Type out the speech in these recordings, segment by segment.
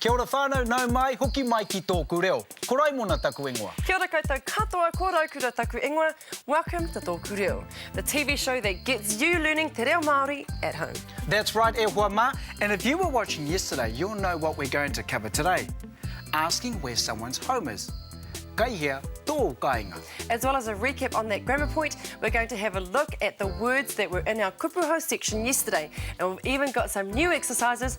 Kia ora whanau nau mai hoki mai ki tōku reo. Ko Raimona taku ingoa. Kia ora koutou katoa ko Raukura taku ingoa welcome to tōku reo the TV show that gets you learning te reo Māori at home. That's right e hoa mā and if you were watching yesterday you'll know what we're going to cover today asking where someone's home is kai hea tōu kainga. As well as a recap on that grammar point we're going to have a look at the words that were in our kupu hou section yesterday and we've even got some new exercises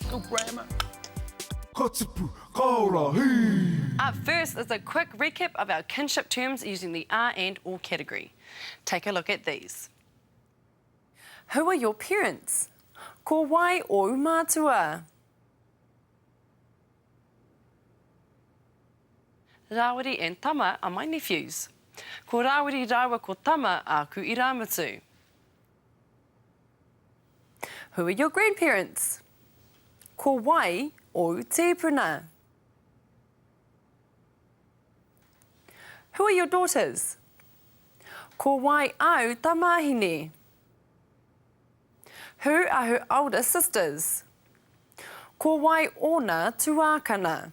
School grammar. Ka tipu, ka ora, hī! Up first is a quick recap of our kinship terms using the a and or category. Take a look at these. Who are your parents? Ko wai ōu mātua? Rāwiri and Tama are my nephews. Ko Rāwiri rāua ko Tama āku irāmutu. Who are your grandparents? Ko wai ōu tīpuna? Who are your daughters? Ko wai āu tamāhine? Who are her older sisters? Ko wai ōna tuākana?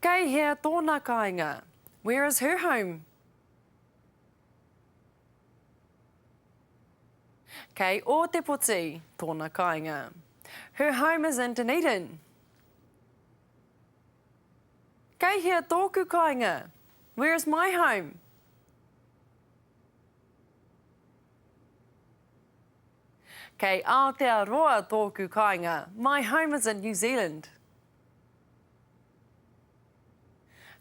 Kei hea tōna kāinga? Where is her home? Kei Ōtepoti tōna kāinga. Her home is in Dunedin. Kei hea tōku kāinga? Where is my home? Kei Aotearoa tōku kāinga, My home is in New Zealand.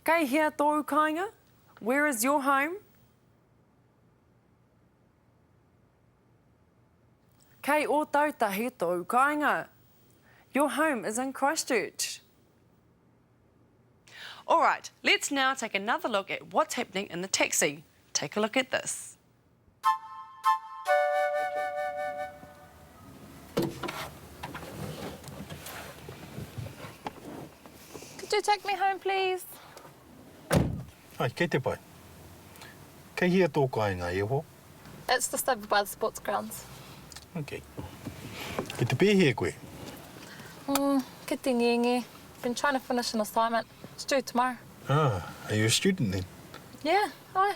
Kei hea tōu kāinga? Where is your home? Kei Ōtautahi tōu kāinga? Your home is in Christchurch. Alright, let's now take another look at what's happening in the taxi. Take a look at this. Could you take me home please? Hi, kei te pai. Kei hea tō kāinga, e ho? It's just over by the sports grounds. Ok. Kei te pēhea koe? Umm, kei te ngenge. Been trying to finish an assignment. It's due tomorrow. Ah, are you a student then? Yeah, aye.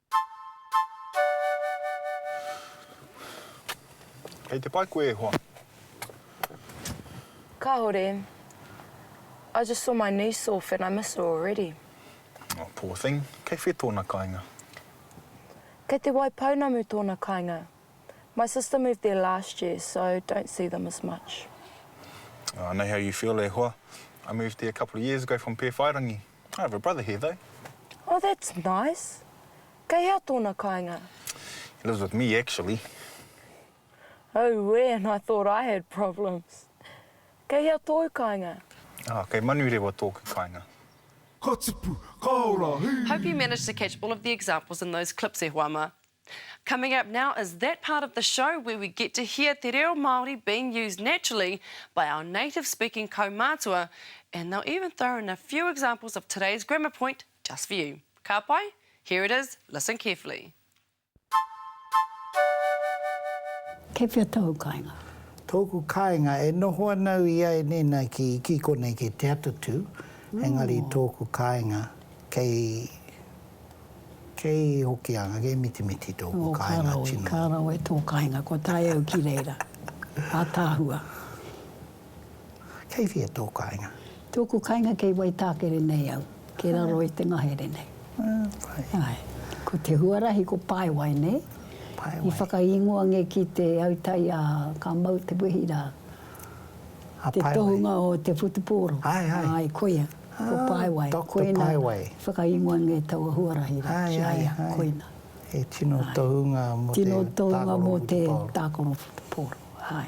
Kei te pai koe e hoa? Kahore, I just saw my niece off and I miss her already. Oh, poor thing. Kei whe tona kainga? Kei te Waipounamu tona kainga. My sister moved there last year, so don't see them as much. Ah, I know how you feel e hoa. I moved there a couple of years ago from Pēwhairangi. I have a brother here though. Oh that's nice. Kei hea tōna kāinga? He lives with me actually. Auē and I thought I had problems. Kei hea tōu kāinga? Ah, kei Manurewa tōku kāinga. Ka tipu, ka ora, hī! Hope you managed to catch all of the examples in those clips e hoa ma. Coming up now is that part of the show where we get to hear te reo Māori being used naturally by our native speaking kaumātua and they'll even throw in a few examples of today's grammar point just for you. Ka pai? Here it is, listen carefully. Kei whea tōu kāinga? Tōku kāinga, e noho ana au i a e nēnā ki, ki konei, ki Te Atatū, engari tōku kāinga kei Kei Hokianga, kei Mitimiti tōku kāinga tino. Ō, ka rawe tō kāinga, kua tae au ki reira. Ātaahua. Kei whea tō kāinga? Tōku kāinga kei Waitākere nei au, kei raro i te ngahere nei. Āe. Ko te huarahi ko Paewai nei. Paewai. I whakaingoa nge ki te autai a ka mau te wehi rā. A Paewai. Te tohunga o te whutupōro. Āe, āe. Āe, koia. Ko Paewai. Ko Paewai. Tēnā, whakaingoa nei taua huarahi rā ki a ia, koina. He tino tohunga mō te tākaro whutupaoro. Tino tohunga mō te tākaro whutupaoro, āe.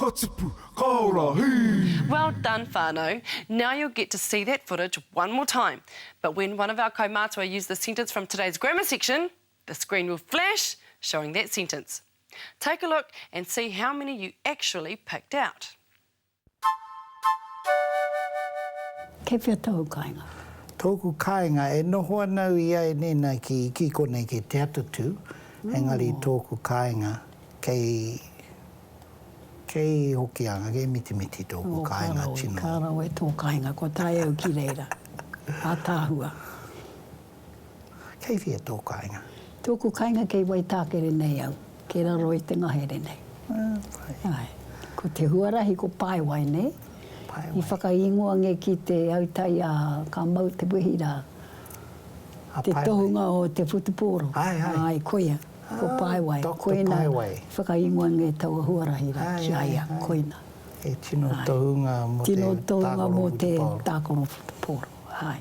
Ka tipu, ka ora, hī! Well done whanau, now you'll get to see that footage one more time but when one of our kaumātua use the sentence from today's grammar section the screen will flash showing that sentence. Take a look and see how many you actually picked out. Kei whea tōu kāinga? Tōku kāinga, e noho ana au i a Enena ki, ki konei, ki Te Atatū, engari tōku kāinga kei, kei Hokianga, kei Mitimiti tōku kāinga tino. Ka rawe, ka rawe tō kāinga, kua tae au ki reira. Ataahua. Kei whea tō kāinga? Tōku kāinga kei Waitākere nei au, kei raro i te ngahere nei. Āe. Ko te huarahi ko Paewai nei. Paewai. I whakaingoa nge ki te autai a ka mau te wehi ra. A Paewai. Te tohunga o te whutupōro. Ae, ae. Ae, koia. Ko Paewai. Doctor Paewai. Koina i whakaingoa nge taua huarahi ra ki a ia. Koina. He tino tohunga mo te tākaro whutupōro. Tino tohunga mo te tākaro whutupōro. Ae.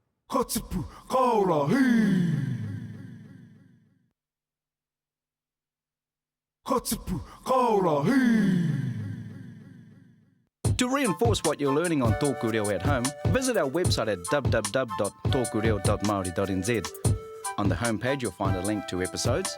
Ka tipu, ka ora, hii! Ka tipu, ka ora, hii! To reinforce what you're learning on Tōku Reo at Home, visit our website at www.tokureo.maori.nz. On the home page you'll find a link to episodes,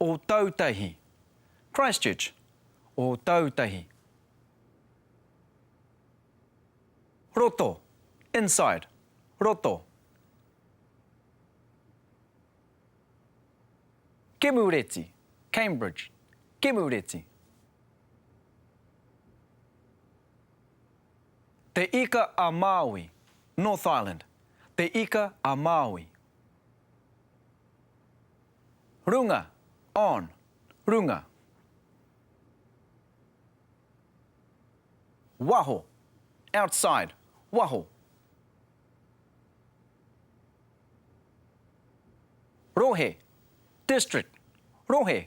Ōtautahi, Christchurch, Ōtautahi. Roto, inside, roto. Kemureti, Cambridge, Kemureti. Te Ika-a-Māui, North Island, Te Ika-a-Māui. Runga, on, runga. Waho, outside, waho. Rohe, district, rohe.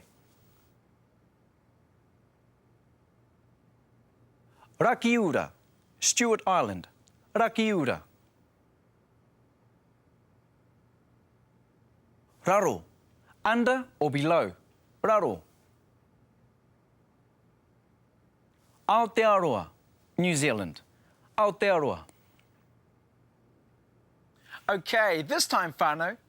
Rakiura, Stewart Island, Rakiura. Raro, under or below, raro. Aotearoa, New Zealand, Aotearoa. Okay, this time whānau,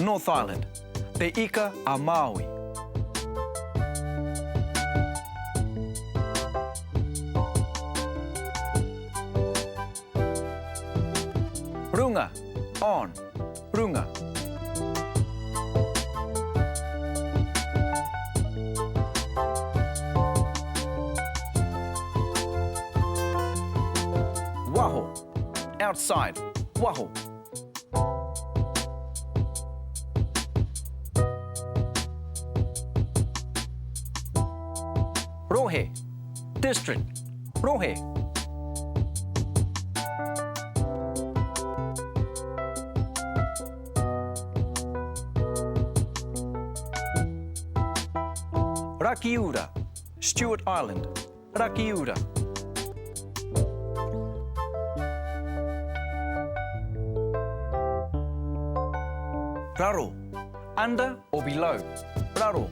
North Island, Te Ika a Māui. Runga, on, runga. Waho, outside, waho. Rohe, district, rohe. Rakiura, Stewart Island, Rakiura. Raro, under or below, raro.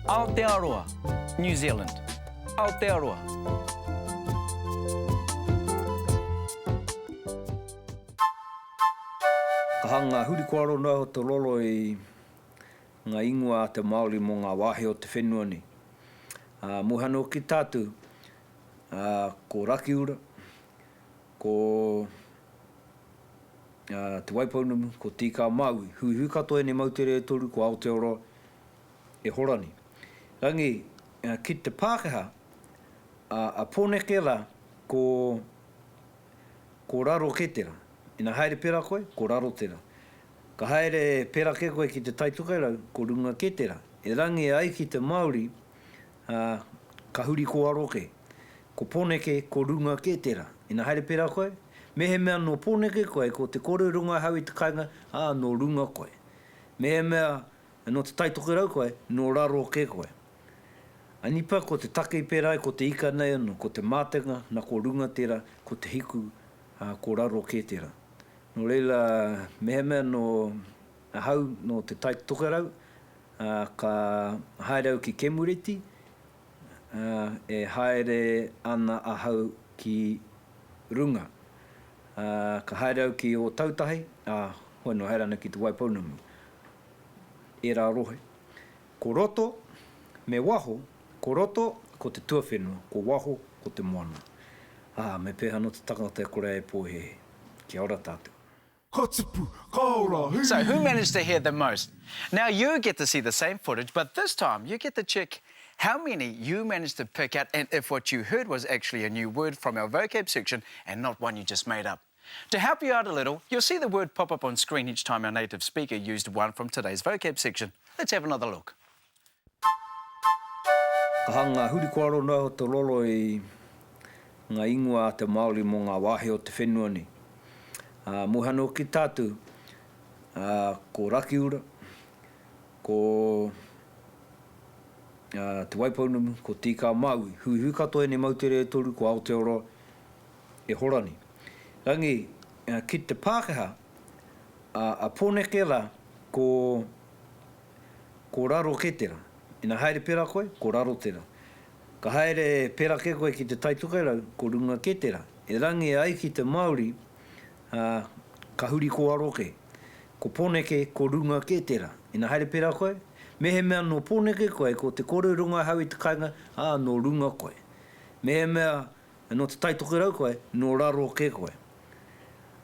Aotearoa, New Zealand, Aotearoa. Ka hanga ngā hurikoaro noa iho te roro i ngā ingoa a te Māori mō ngā wāhi o te whenua nei. Ā, muha noa ki tā tou, ā, ko Rakiura, ko, ā, Te Waipounamu, ko Tīkāmāui, huihui katoa ēnei moutere e toru, ko Aotearoa, e hora nei. Rāngi, ki te Pākehā, ā, a Pōneke rā, ko. Ko raro ke tera. Ina haere pera koe, ko raro tera. Ka haere pera ke koe ki te Tai Tokerau, ko runga ke tera. E rangi ai ki te Maori, a, ka huri ko aro ke. Ko Poneke, ko runga ke tera. Ina haere pera koe, mehemea no Poneke koe, ko te kore runga hau i te kainga, a, no runga koe. Mehemea no te Tai Tokerau koe, no raro ke koe. Anipa, ko te take i pērā ai ko te ika nei anō, ko te mātenga, na ko runga tērā, ko te hiku, ā, ko raro kē tērā. Nō reira, mehemea nō ahau nō Te Tai Tokerau, ā, ka haere au ki Kemureti, ā, e haere ana ahau ki runga. Ā, ka haere au ki Ōtautahi, ā, hoi nō, haere ana ki Te Waipounamu. Ērā rohe. Ko roto, me waho, ko roto, ko te tuawhenua, ko waho, ko te moana. Ā, me pēhea anō te tangata e kore ai e pōhēhē? Kia ora tātou. Ka tipu, ka ora, hī! So who managed to hear the most? Now you get to see the same footage but this time you get to check how many you managed to pick out and if what you heard was actually a new word from our vocab section and not one you just made up. To help you out a little, you'll see the word pop up on screen each time our native speaker used one from today's vocab section. Let's have another look. Ka hanga huri kua rono au te roro i nga ingoa a te Maori mo nga wahi o te whenua nei. A, mohi ana hoki ki tatu, a, ko Rakiura, ko, a, Te Waipounamu, ko Tīkā Maui. Huihui katoa enei moutere e toru ko Aotearoa, E Horani. Rangi, ki te Pākehā, a Poneke rā, ko, ko raro kē tērā. Ina haere pērā koe, ko raro tērā. Ka haere pērā kē koe ki te Tai Tokerau, ko runga kē tērā. E Rangi ai ki te Māori, ā, ka huri ko aro kē. Ko Poneke, ko runga kē tērā. Ina haere pērā koe, mehemea nō Poneke koe, ko te kore runga hau i te kainga, ā, nō runga koe. Mehemea Ai nō te Taitokerau koe, nō raro kē koe.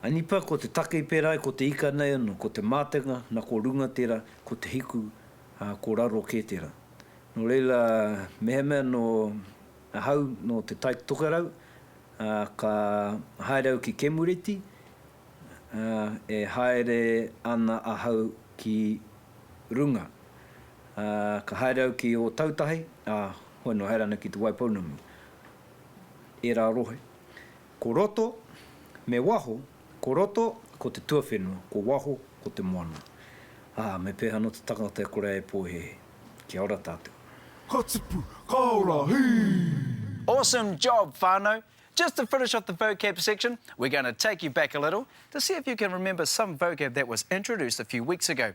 Ai nipa ko te take i pērā ai ko te ika nei anō, ko te mātenga na ko runga tērā, ko te hiku, ā, ko raro kē tērā. Nō reira, mehemea nō ahau nō te Taitokerau, ā, ka haere au ki Kemureti, ā, e haere ana ahau ki runga. Ā, ka haere au ki Ōtautahi, ā, hoi nō haere ana ki Te Waipounamu. ērā rohe, ko roto, me waho, ko roto, ko te tuawhenua, ko waho, ko te moana. Ā, me pēhea anō te tangata e kore ai e pōhēhē? Kia ora tātou. Ka tipu, ka ora, hī! Awesome job whanau, just to finish off the vocab section we're going to take you back a little to see if you can remember some vocab that was introduced a few weeks ago.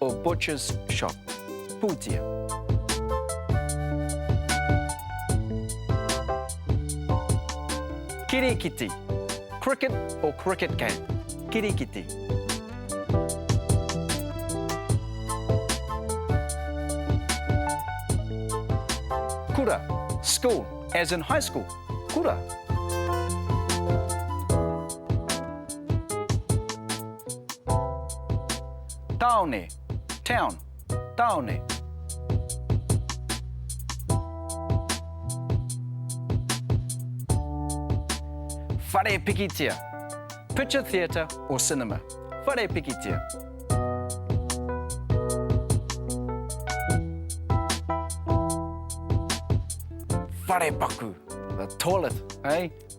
o Butcher's Shop, Pūtea. Kirikiti, cricket or cricket game, kirikiti. Kura, school, as in high school, kura. Tāone, town, tāone. Whare pikitia, picture theatre or cinema. Whare pikitia. wharepaku, the toilet, eh?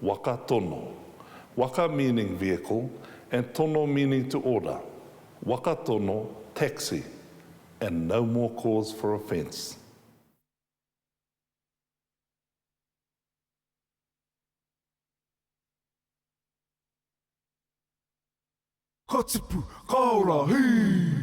Waka tono Waka meaning vehicle and tono meaning to order, waka tono, taxi, and no more cause for offence. Ka tipu, ka ora, hī!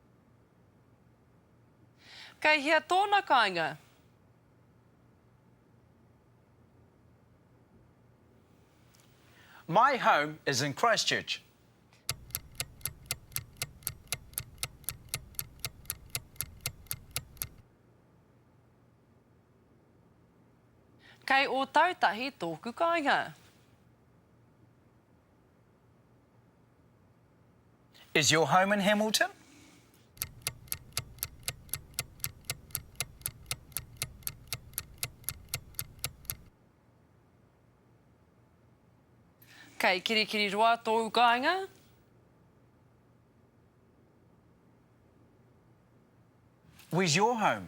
Kei hea tōna kāinga? My home is in Christchurch. Kei Ōtautahi tōku kāinga. Is your home in Hamilton? Kei Kirikiriroa tōu kāinga? Where's your home?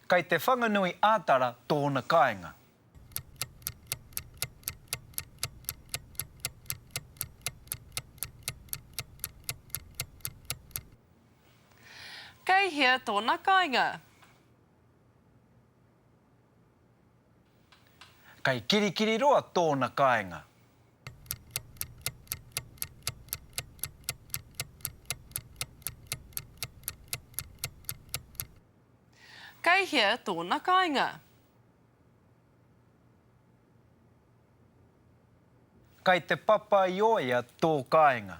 Kei Te Whanganui a Tara tōna kāinga. Kei hea tōna kāinga? Kei Kirikiriroa tōna kāinga. Kei hea tōna kāinga? Kei te papaioea tō kāinga?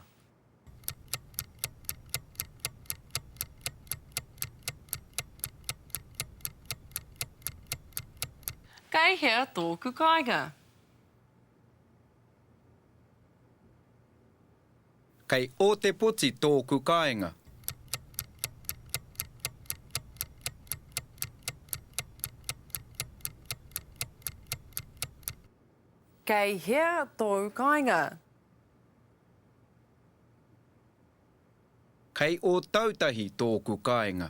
Kei hea tōku kāinga? Kei Ōtepoti tōku kāinga. Kei hea tōu kāinga? Kei Ōtautahi tōku kāinga.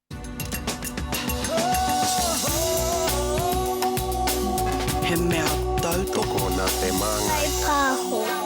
He mea tautoko nā te māngai. Taipāho.